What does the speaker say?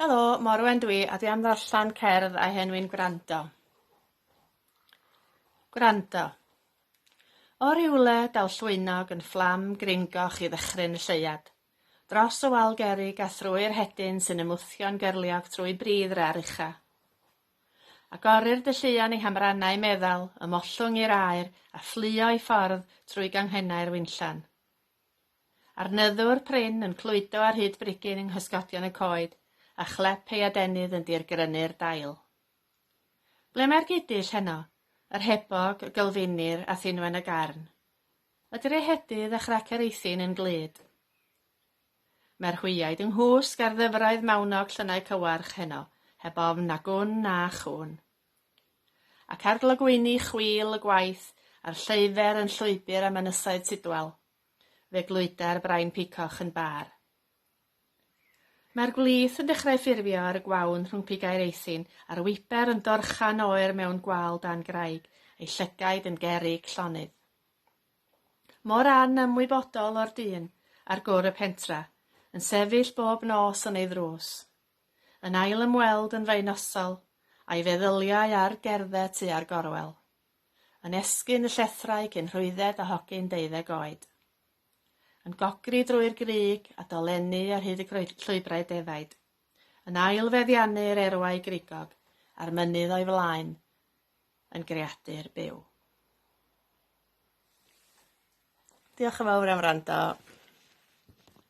Helo, Morwen dwi a dwi am ddarllen cerdd a henwi'n gwrando. Gwrando. O rywle daw llwynog yn fflam gringoch i ddychryn y lleuad. Dros y wal gerig a thrwy'r hedyn sy'n ymwthio'n gerliog trwy bridd rar ucha. Agorir dy lluon i hamrannau meddal, ymhollwng i'r aer a fflio i ffordd trwy ganghennau'r winllan. A'r nyddwr prin yn clwydo ar hyd brigyn yng nghysgodion y coed, a chlep ei adenydd yn dirgrynu'r dail. Ble mae'r gudull heno? Yr hebog, y gylfinir, a thinwen y garn. Y draehedydd a chrec yr eithin yn glyd. Mae'r hwyaid yng nghwsg ar ddyfroedd mawnog llynnau cywarch heno, heb ofn na gwn na chŵn. ac arglogwyni chwil y gwaith a'r lleufer yn llwybr am ynysoedd Tidwal, fe glwyda'r brain picoch yn bâr. Mae'r gwlith yn dechrau ffurfio ar y gwawn rhwng pigau'r eithin, a'r wiper yn dorchan oer mewn gwal dan graig, ei llygaid yn gerrig llonydd. Mor anymwybodol o'r dyn ar gwr y pentra, yn sefyll bob nos yn ei ddrws. Yn ail ymweld yn fy nosal, a'i feddyliau ar gerdded tua'r gorwel. Yn esgyn y llethrau cyn rhwydded a hogyn deuddeg oed. Yn gogri drwy'r grug a dolennu ar hyd y llwybrau defaid. Yn ail feddiannu'r erwau grigog a'r mynydd o'i flaen yn greadur byw. Diolch yn fawr am wrando.